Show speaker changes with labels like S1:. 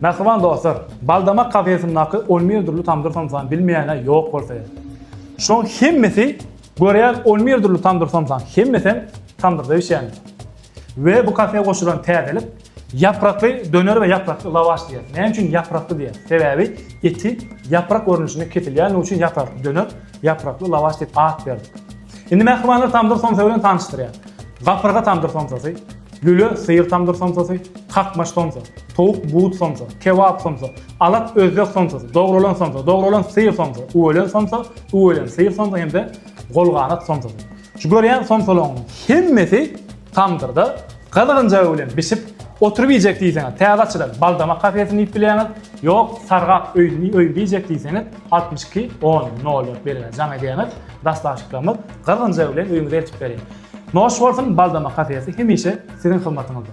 S1: Mähriban dostlar, Baldamak kafesindaki on bir dürli tamdyr somsany bilmeýäne ýok bolsa gerek. Şolaň hemmesi görýän on bir dürli tamdyr somsany, hemmesem tamdyrda bişýändir. We bu kafeýe goşulan täzelik ýaprakly döner we ýaprakly lawaş diýýär. Näme üçin ýaprakly diýýär? Sebäbi eti ýaprak görnüşinde kesilýänligi üçin ýaprakly döner, ýaprakly lawaş diýip at berdik. Indi mähribanlar tamdyr somsa bilen tanyşdyrýar. Gapyrga tamdyr somsasy, Lüle, syýr tamdyr somsasy, kakmaş somsa, towuk but somsa, kebap somsa, alak özbek somsasy, dogralan somsa, dogralan syýr somsa, üwelen somsa, üwelen syýr somsa hem-de golganat somsasy. Şu görýän somsalaryň hemmesi tamdyrda gyzgynjagy bilen bişip oturyp iýjek diýseňiz, täze açylan Baldamak kafesini diýip bilýäňiz, ýok, Sargak öýüni öýünde iýjek diýseňiz, altmyş iki, on, nol dört belgine jaň edýäňiz, daşlaşyklarymyz gyzgynjagy bilen öýüňize eltip berýär. Noş bolsun baldama kafesi hemişe siziň hyzmatyňyzda.